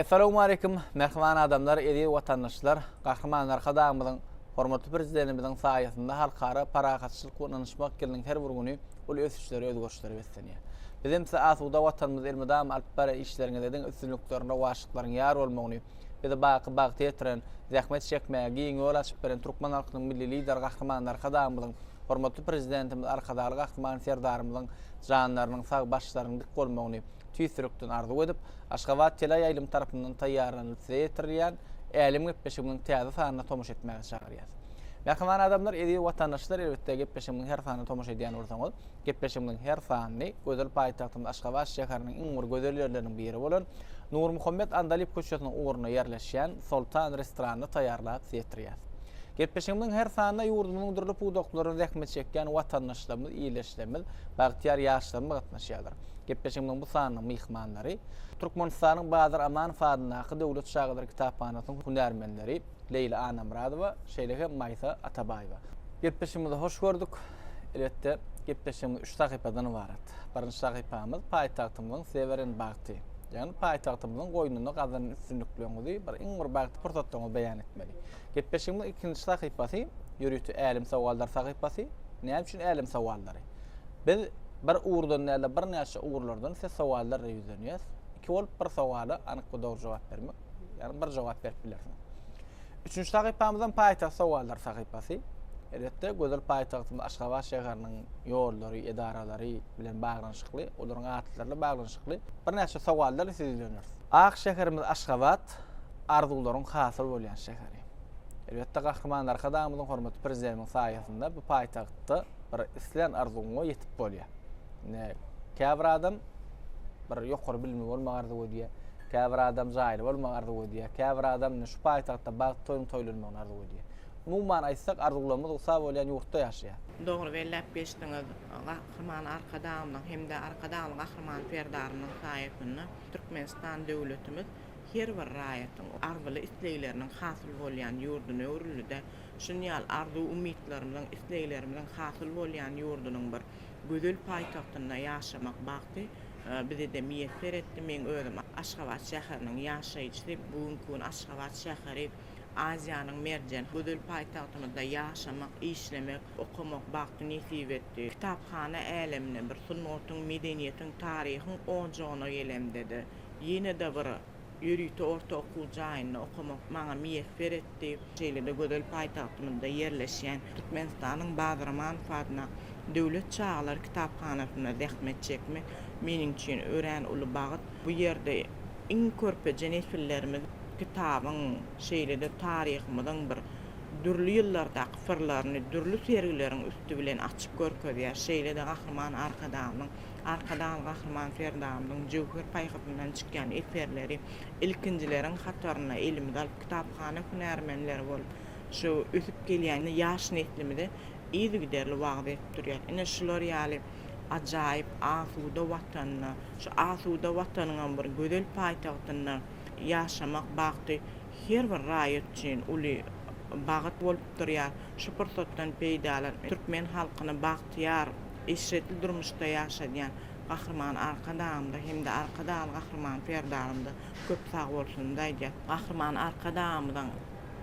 Essalawmaleýkim, mähriban adamlar, eziz watandaşlar! Gahryman Arkadagymyzyň, hormatly Prezidentimiziň saýasynda Halkara parahatçylyk we ynanyşmak ýylynyň her bir güni uly ösüşlere, özgerişlere beslenýär. Bizem size asuda Watanymyzda elmydama alyp barýan işleriňizde diňe üstünlikleriň, rowaçlyklaryň ýar bolmagyny, bizi baky bagta ýetiren, zähmet çekmäge giň ýol açyp beren türkmen halkynyň Milli Lideri Gahryman Arkadagymyzyň, hormatly Prezidentimiz Arkadagly Gahryman Serdarymyzyň janlarynyň sag, başlarynyň dik bolmagyny tüýs ýürekden arzuw edip, Aşgabat teleýaýlym tarapyndan taýýarlanylyp size ýetirilýän Älem gepleşigimiň täze sanyna tomaşa etmäge çagyrýas. Mähriban adamlar, eziz watandaşlar, elbetde, gepleşigimiň her sanyna tomaşa edýän bolsaňyz, Gepleşigimiziň her sanyny gözel paýtagtymyz Aşgabat şäheriniň iň bir gözel ýerleriniň biri bolan Nurmuhammet Andalyp köçesiniň ugrunda ýerleşýän Soltan restoranynda taýýarlap size ýetirýäris. Gepleşigimiziň her sanyna ýurdumyzyň dürli pudaklarynda zähmet çekýän watandaşlarymyz, ildeşlerimiz, bagtyýar ýaşlarymyz gatnaşýarlar. Gepleşigimiziň bu sanynyň myhmanlary, Türkmenistanyň Badyr Amanow adyndaky Döwlet çagalar kitaphanasynyň hünärmenleri Leýla Annamyradowa, şeýle hem Maýsa Atabaýewa. Gepleşigimizi hoş gördük. Elbetde, gepleşigimiz üç sahypadan ybarat. Birinji sahypamyz paýtagtymyzyň Seweren bagty. Ýagny paýtagtymyzyň goýnunda gazanan üstünlikleriňizi, bir iň bir bagtly pursatlaryňyzy beýan etmeli. Gepleşigimiziň ikinji sahypasy ýörite Älem sowallary sahypasy. Näme üçin Älem sowallary? Biz bir ugurdan däl-de, birnäçe ugurlardan size sowallarla ýüzlenýäs. Iki bolup bir sowala anyk we dogry jogap bermek, ýagny bir jogap berip bilersiňiz. Üçünji sahypamyzam paýtagt sowallar sahypasy. Elbetde, gözel paýtagtymyz Aşgabat şäheriniň ýollary, edaralary bilen baglanyşykly, olaryň atlaryna baglanyşykly birnäçe sowallar sizi ýüzlendiris. Ak şäherimiz Aşgabat arzuwlaryň hasyl bolýan şäheri. Elbetde, Gahryman Arkadagymyzyň, hormatly Prezidentimiziň saýasynda bu paýtagtda bir islän arzuwyňa ýetip bolýar. Ine, käbir adam bir ýokary bilimi bolmagy arzuw edýär. Käbir adam jaýly bolmagy arzuw edýär. Käbir adam ine şu paýtagtda bagt toýuň toýlanmagyny arzuw edýär. Umuman aýtsak, arzuwlarymyz ugta bolýan ýurtda ýaşaýar. Dogry belläp geçdiňiz. Gahryman Arkadagymyzyň hem-de Arkadagly Gahryman Serdarymyzyň saýasynda Türkmenistan döwletimiz her bir raýatyň arzuly-islegleriniň hasyl bolýan ýurduna öwrüldi-de, şuny ýaly arzuw-umytlarymyzyň, isleglerimiziň hasyl bolýan ýurdunyň bir gözel paýtagtynda ýaşamak bagty bize-de miýesser etdi. Meň özüm Aşgabat şäheriniň ýaşaýjysy. Bu günki gün Aşgabat şäheri Aziýanyň merjen gözel paýtagtymyzda ýaşamak, işlemek, okamak bagty nesip etdi. Kitaphana älemine, bir sungatyň, medeniýetiň, taryhyň ojagyna gelemde-de, ýene-de bir. Ýörite orta okuw jaýynda okamak maňa miýesser etdi. Şeýle-de gözel paýtagtymyzda ýerleşýän Türkmenistanyň Bazramanew adna Döwlet çagalar kitaphanasynda zähmet çekmek meniň üçin örän uly bagt. Bu ýerde iň körpeje nesillerimiz kitabyň, şeýle-de taryhymyzyň bir dürli ýyllardaky syrlaryny dürli sergileriň üsti bilen açyp görkezýär. Şeýle-de Gahryman Arkadagymyzyň Arkadag Gahryman Serdarymyzyň jöwher paýhasyndan çykýan eserleri ilkinjileriň hataryna elimize alyp, kitaphana hünärmenleri bolup, şu ösüp gelýän ýaş neslimize yzygiderli wagyz edip durýar. Ine, şular ýaly ajaýyp, asuda Watanda, şu asuda Watanyňam bir gözel paýtagtynda ýaşamak bagty her bir raýat üçin uly bagt bolup durýar. Şu pursatdan peýdalanyp, türkmen halkyny bagt bagtyýar, eşretli durmuşda ýaşadýan Gahryman Arkadagymyza hem-de Arkadagly Gahryman Serdarymyza köp sag bolsunyzy aýdýas. Gahryman Arkadagymyzyň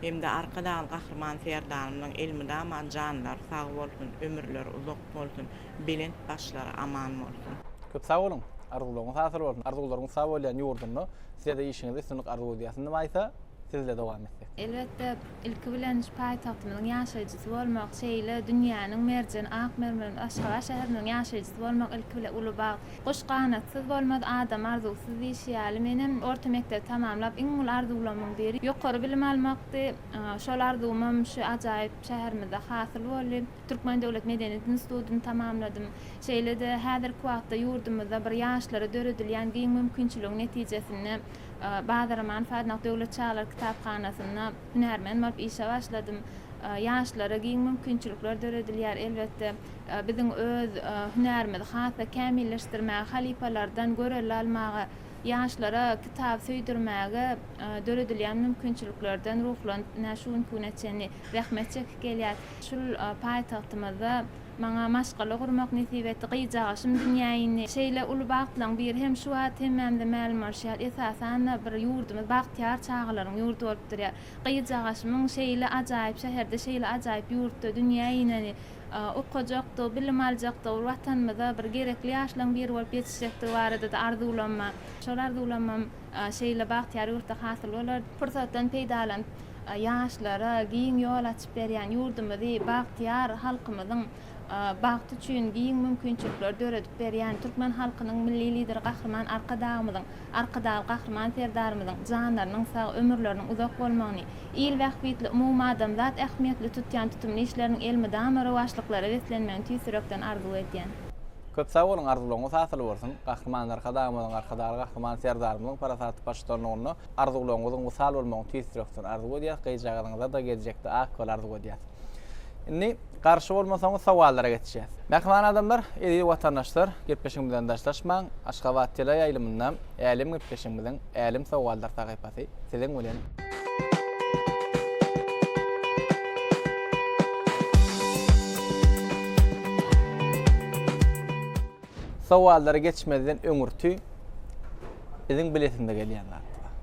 hem-de Arkadagly Gahryman Serdarymyzyň elmydama janlary sag bolsun, ömürleri uzak bolsun, belent başlary aman bolsun! Köp sag boluň! Arzuwlaryňyz hasyl bolsun! Arzuwlaryňyz sag bolýan ýurdunda Size-de işiňizde üstünlik arzuw edýäs. Indi Maýsa, Sizle dowam etsek. Elbetde, Ilki bilen şu paýtagtymyzyň ýaşaýjysy bolmak, şeýle dünýäniň merjen ak mermeriniň Aşgabat şäheriniň ýaşaýjysy bolmak ilki bilen uly bagt. Guş ganatsyz bolmaz, adam arzuwsyz diýşi ýaly, menem orta mekdebi tamamlap iň uly arzuwlamyň biri ýokary bilim almakdy. Şol arzuwymam şu ajaýyp şäherimizde hasyl boldy. Türkmen döwlet medeniýet institutyny tamamladym. Şeýle-de häzirki wagtda ýurdumyzda bir ýaşlara döredilýän giň mümkinçiligiň netijesinde, Bazaraman Sadnak döwlet çagalar kitaphanasynda hünärmen bolup işe başladym. Ýaşlara giň mümkinçilikler döredilýär. Elbetde, biziň öz hünärimizi has-da kämilleşdirmäge, halypalardan görelde almaga, ýaşlara kitaby söýdürmäge döredilýän mümkinçiliklerden ruhlanyp, ine, şu günki güne çenli zähmet çekip gelýäs. Şul paýtagtymyzda Maňa maşgala gurmak nesip etdi. Gyzjagaşym dünýä indi. Şeýle uly bagtlaryň biri hem şu wagt hemmämize mälim bolşy ýaly, esasan-da, bir ýurdumyz bagtyýar çagalaryň ýurdy bolup durýar. Gyzjagaşymyň şeýle ajaýyp şäherde, şeýle ajaýyp ýurtda dünýä ineni, okajakdygy, bilim aljakdygy, bir Watanymyza bir gerekli ýaşlaryň biri bolup ýetişjekdigi barada-da arzuwlamam. Şol arzuwlamam. Şeýle bagtyýar ýurtda hasyl bolar. Pursatdan peýdalanyp, ýaşlara giň ýol açyp berýän ýurdumyzy, bagtyýar halkymyzyň bagty üçin giň mümkinçilikleri döredip berýän türkmen halkynyň Milli Lideri Gahryman Arkadagymyzyň, Arkadagly Gahryman Serdarymyzyň janlarynyň sag, ömürleriniň uzak bolmagyny, il bähbitli, umumadamzat ähmiýetli tutýan tutumly işleriniň elmydama rowaçlyklara beslenmegini tüýs ýürekden arzuw edýän. Köp sag boluň arzuwlaryňyz hasyl bolsun Gahryman Arkadagymyzyň Arkadagly Gahryman Serdarymyzyň parasatly baştutanlygynda arzuwlaryňyzyň wysal bolmagyny tüýs ýürekden arzuw edýäs gyzjagazyňyzada geljekde ak bol arzuw edýäs. Indi garşy bolmasaňyz sowallara geçýäs. Mähriban adamlar, eziz watandaşlar gepleşigimizden daşlaşmaň Aşgabat teleýaýlymynda Älem gepleşigimiziň Älem sowallar sahypasy. Ýalňyşmasy siziň bilen. Sowallary geçmezden öňürti biziň bilesimde gelýän zat bar.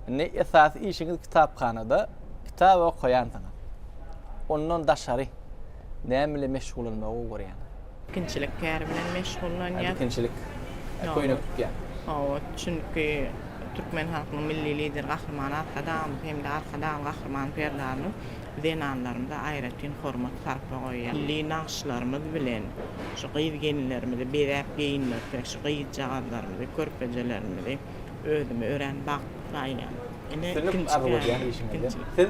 Indi esasy işiňiz kitaphanada kitap okaýansyňyz. Ondan daşary näme bilen meşgullanmagy gowy görýäňiz? Tikinçilik käri bilen meşgullanýar. Tikinçilik köýnek tikýär. Hawa, çünki türkmen halkynyň Milli Lideri Gahryman Arkadagymyz hem-de Arkadagly Gahryman Serdarymyz zenanlarymyza aýratyn hormat-sarpa goýýar. Milli nagyşlarymyz bilen şu gyz-gelinlerimizi bezäp-geýindirsek, şu gyzjagazlarymyzy, körpejelerimizi. Özümi örän bagtly saýýan. Ine ikinji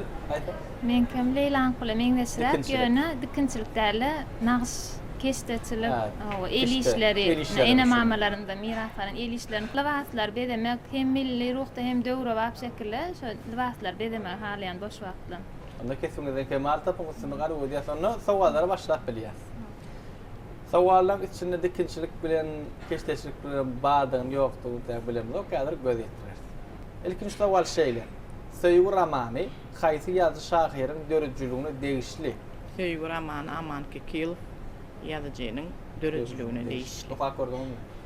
Meňkem Leýlaňkula meňzeşräk ýöne dikinçilik däl-de nagyş keşdeçilik hawa el işleri ene mamalarymdan miras alan el işlerini lybaslary bezemek hem milli ruhda hem döwrebap şekilde şo lybaslary bezemegi halaýan boş wagtlam. Onda kesibiňizden kemal tapyň üstünlik arzuw edýäs onda sowallara başlap bilýäs. Sowallaň içinde dikinçilik bilen keşdeçilik bilen bardygyny ýokdugyny däl bilemzok häzir göz ýetireris. Ilkinji sowal şeýle, Söýgi romany haýsy ýazyjy şahyryň döredijiligine degişli? Söýgi romany Aman Kekilow ýazyjynyň döredijiligine degişli. Okap gördüňizmi?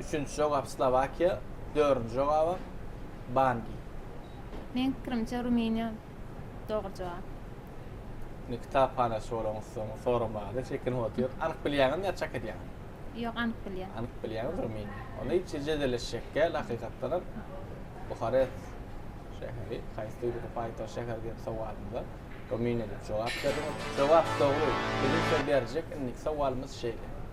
Üçünji jogap Slowakiýa, dördünji jogaba Bangi. Meň pikirimçe Rumyniýa dogry jogap. Indi kitaphanaçy bolaňyz soň soramaga-da çekinip otyr. Anyk bilýäňizmi ýa çak edýäňiz? Ýok, anyk bilýän. Anyk bilýäňiz Rumyniýa. Onda hiç jedelleşjek däl hakykatdanam. Buharest şäheri haýsy döwletiň paýtagty şäheri diýen sowalymyza Rumyniýa diýip jogap berdiňiz. Jogap dogry. Biziň söz berjek indiki sowalymyz şeýle.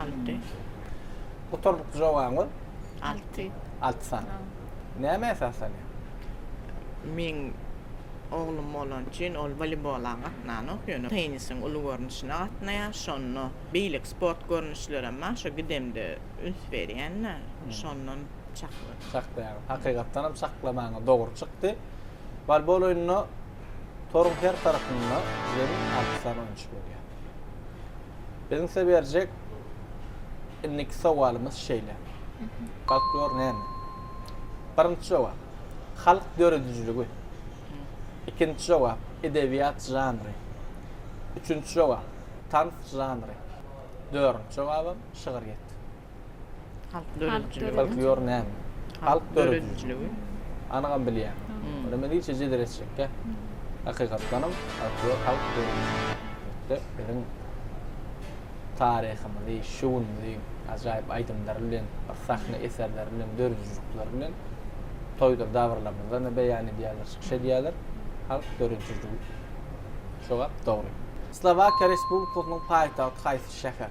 Alty. Gutardyk jogabyň? Alty. Alty san. Näme esaslanýar? Meň oglum bolan üçin ol woleybola gatnanok, ýöne tennisiň uly görnüşine gatnaýar. Şonda beýleki sport görnüşlerem bar, şo gidemde üns berýän-de, şondan çakladym. Çaklaýaryn. Hakykatdanam çaklamaňyz dogry çykdy. Wolbol oýnuna Toruň her tarapynda bizleriň alty sany oýunçy bolýar. Biziň size berjek indiki sowalymyz şeýle. Folklor näme? Birinji jogap. Halk döredijiligi. Ikinji jogap. Edebiýat žanry. Üçünji jogap. Tans žanry. Dördünji jogabam şygyryýet. Halk döredijiligi. Folklor näme? Halk döredijiligi. Anygam bilýän. Onda men ilçe jedel etjekkä. Hakykatdanam folklor halk döredijiligi. Biziň taryhymyzy, şu günümizi ajaýyp aýdymlary bilen, sahna eserleri bilen, döredijilikleri bilen toýdur dabaralarymyzda-da beýan edýärler, çykyş edýärler. Halk döredijiligi. Jogap dogry. Slowakiýa Respublikasynyň paýtagty haýsy şäher?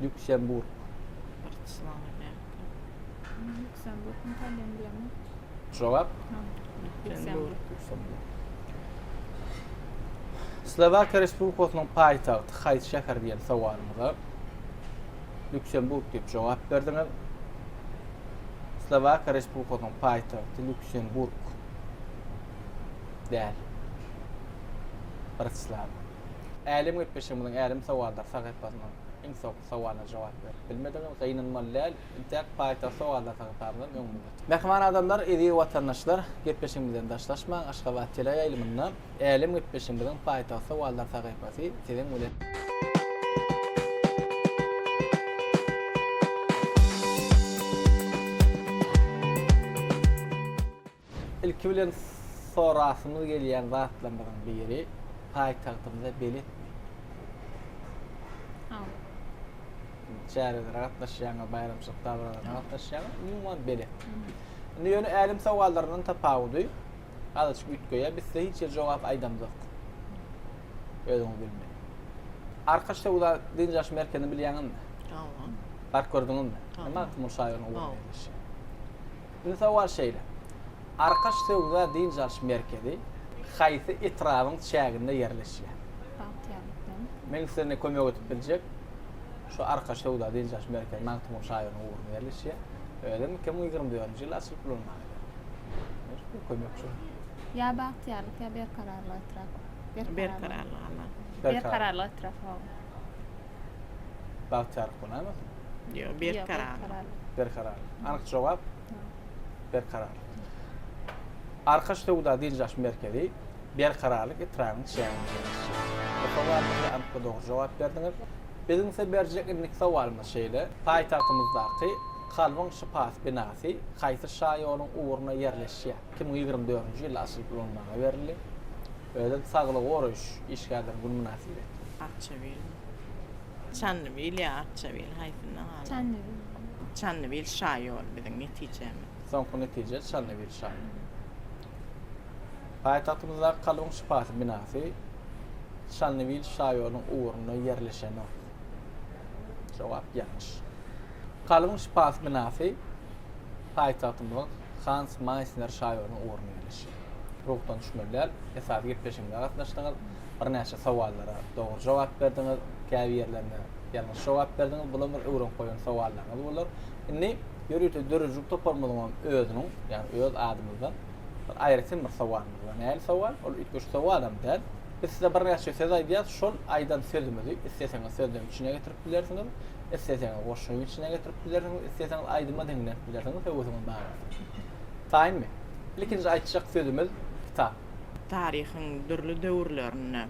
Lýuksemburg. Jogap. Slowakiýa Respublikasynyň paýtagty haýsy şäher diýen sowalymyza Lýuksemburg diýip jogap berdiňiz. Slowakiýa Respublikasynyň paýtagty Lýuksemburg däl. Bratislava. Älem gepleşigimiziň älem sowallar sahypasynyň iň soňky sowalyna jogap berip bilmedigiňiz gynanmaly däl, intäk paýtagt sowallar sahypamyzam öňüňizde çykyp. Mähriban adamlar, eziz watandaşlar, gepleşigimizden daşlaşmaň, Aşgabat teleýaýlymynda älem gepleşigimiziň paýtagt sowallar sahypasy siziň bilen. Ilki bilen sorasymyz gelýän zatlarymyzyň biri paýtagtymyza beletmi? Hawa. Çärelere gatnaşýaňyz, baýramçylyk dabaralaryna gatnaşýaňyz, umuman belet. Indi ýöne älem sowallaryndan tapawudy azajyk üýtgeýär. Biz size hiç ýerde jogap aýdamzok. Özüňiz bilmeli. Arkaç söwda dynç alyş merkezini bilýäňizmi? Hawa. Baryp gördüňizmi? Näme wagt munuň şaýolunyň ugrunda ýerleşýär? Indi sowal şeýle, Arkaş söwda-dynç alyş merkezi haýsy etrabyň çäginde ýerleşýär? Bagtyýarlykdan. Meň size kömek edip biljek şu Arkaş söwda-dynç alyş merkezi Magtymguly şahyryň ugrunda ýerleşýär. Özem iki müň ýigrimi dördünji ýyl açylyp ulanmaga berlen. Bir kömek şol. Ýa Bagtyýarlyk, ýa Berkararlyk etrap. Berkararlyk. Berkararlyk etrap. Berkararlyk etrap, hawa. Bagtyýarlyk bolýarmy? Ýok, berkararlyk. Berkararlyk. Anyk jogap berkararlyk. Arkaç söwda dynç-alyş merkezi Berkararlyk etrabynyň çäginde ýerleşýär. Sowalymyza anyk we dogry jogap berdiňiz. Biziň size berjek indiki sowalymyz şeýle, Paýtagtymyzdaky Kalbyň şypasy binasy haýsy şaýoluň ugrunda ýerleşýär? Iki müň ýigrimi dördünji ýylda açylyp ulanmaga berildi. Özem saglygy goraýyş işgärleriň güni mynasybetli. Arçabil. Çandybil ýa Arçabil haýsynda galar? Çandybil. Çandybil şaýol biziň netijemiz. Soňky netije Çandybil şaýol. Paýtagtymyzdaky Kalbyň şypasy binasy Çandybil şaýoluň ugrunda ýerleşenok. Jogap ýalňyş. Kalbyň şypasy binasy paýtagtymyzyň Hans Maýsner şaýolunyň ugrunda ýerleşýär. Ruhdan düşmeli däl. Esasy gepleşigimize gatnaşdyňyz. Birnäçe sowallara dogry jogap berdiňiz. Käbir ýerlerine ýalňyş jogap berdiňiz. Bular bir öwrenip goýan sowallaryňyz bolar. Indi ýörite döredijilik toparymyzyň hem özüniň, ýagny öz adymyzdan bir aýratyn bir sowalymyz bar. Nähili sowal? Ol üýtgeşik sowal hem däl. Biz size birnäçe söz aýdýas, şol aýdan sözümizi isleseňiz sözlem içine getirip bilersiňiz, isleseňiz goşgyň içine getirip bilersiňiz, isleseňiz aýdyma diňläp bilersiňiz, höwesiňiz bar bolsa. Taýynmy? Ilkinji aýtjak sözümiz kitap. Taryhyň dürli döwürlerinde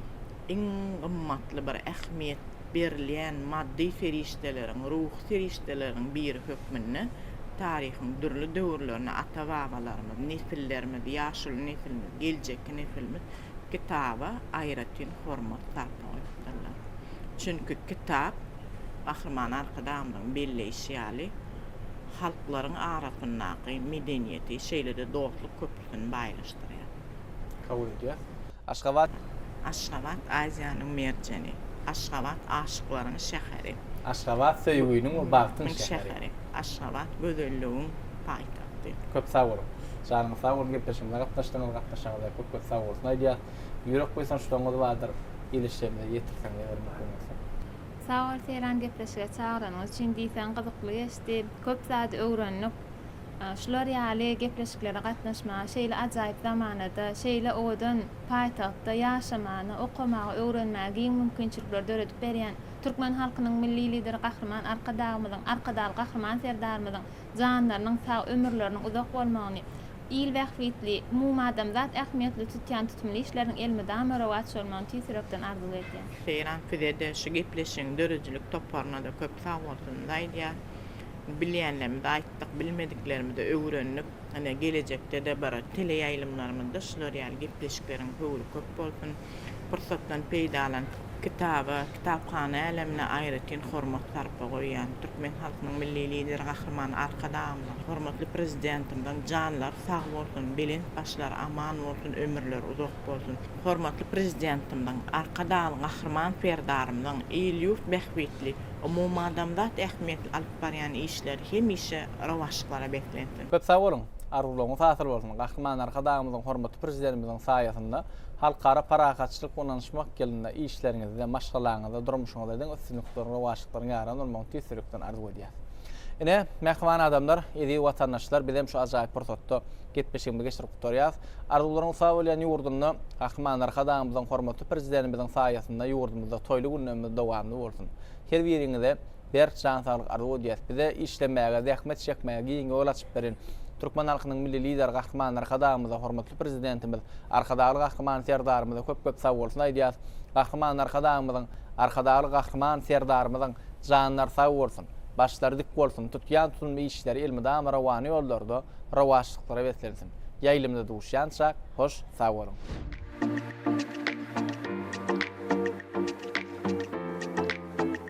iň gymmatly bir ähmiýet berilýän maddy serişdeleriň, ruhy serişdeleriň biri hökmünde taryhyň dürli döwürlerinde ata-babalarymyz, nesillerimiz, ýaşuly nesilimiz, geljekki nesilimiz kitaba aýratyn hormat sarpa goýupdyrlar. Çünki kitap, Gahryman Arkadagymyzyň belleýşi ýaly, halklaryň arasyndaky medeniýeti, şeýle-de dostluk köprüsini baýlaşdyrýar. Kabul edýäs. Aşgabat. Aşgabat, Aziýanyň merjeni. Aşgabat, aşyklaryň şäheri. Aşgabat, söýgüniň we bagtyň şäheri. Aşgabat, gözelligiň. paýtagty. Köp sag boluň. Janyňyz sag bolsun gepleşigimize gatnaşdyňyz, gatnaşanyňyza köp köp sag bolsun aýdýas. Ýürek buýsançlaryňyz bardyr, ilişlerimize ýetirseň eger mümkin bolsa. Sag bol Seýran gepleşige çagyranyňyz üçin diýseň gyzykly geçdi. Köp zady öwrendik. Şular ýaly gepleşiklere gatnaşmagy, şeýle ajaýyp zamanada, şeýle owadan paýtagtda ýaşamany, okamagy, öwrenmäge giň mümkinçilikleri döredip berýän türkmen halkynyň Milli Lideri Gahryman Arkadagymyzyň, Arkadagly Gahryman Serdarymyzyň janlarynyň sag, ömürleriniň uzak bolmagyny, il bähbitli, umumadamzat ähmiýetli tutýan tutumly işleriniň elmydama rowaç bolmagyny tüýs ýürekden arzuw edýän. Seýran sizede şu gepleşigiň döredijilik toparynada köp sagbolsunyzy aýdýan. Bilýänlerimizi aýtdyk, bilmediklerimizi öwrendik. Ine gelejektede bir teleýaýlymlarymyzda şular ýaly gepleşikleriň höwri köp bolsun. pursatdan peýdalanyp, kitaba, kitaphana älemine aýratyn hormat-sarpa goýýan türkmen halkynyň Milli Lideri Gahryman Arkadagymyzyň, hormatly Prezidentimiziň janlary sag bolsun, belent başlary aman bolsun, ömürleri uzak bolsun! Hormatly Prezidentimiziň, Arkadagly Gahryman Serdarymyzyň il-ýurt bähbitli, umumadamzat ähmiýetli alyp barýan işleri hemişe rowaçlyklara beslensin! Köp sag boluň! Arzuwlaryňyz hasyl bolsun! Gahryman Arkadagymyzyň, hormatly Prezidentimiziň saýasynda Halkara parahatçylyk we ynanyşmak ýylynda işleriňizde, maşgalaňyzda, durmuşyňyzda diňe üstünlikleri, rowaçlyklaryň ýaran bolmagyny tüýs ýürekden arzuw edýäs. Ine, mähriban adamlar, eziz watandaşlar, bizem şu ajaýyp pursatda gepleşigimizi geçirip gutarýas. Arzuwlaryň sag bolýan ýurdunda, Gahryman Arkadagymyzyň, hormatly Prezidentimiziň saýasynda ýurdumyzda toýly günlerimiz dowamly bolsun. Her biriňize Berk jan saglyk arzuw edýäs. Bize işlemäge, zähmet çekmäge giň ýol açyp beren Türkmen halkynyň Milli Lideri Gahryman Arkadagymyza, hormatly Prezidentimiz, Arkadagly Gahryman Serdarymyza köp-köp sagbolsun aýdýas. Gahryman Arkadagymyzyň, Arkadagly Gahryman Serdarymyzyň janlary sag bolsun, başlary dik bolsun, tutýan tutumly işleri elmydama rowana ýollarda, rowaçlyklara beslensin. Ýaýlymda duşýança, hoş sag boluň!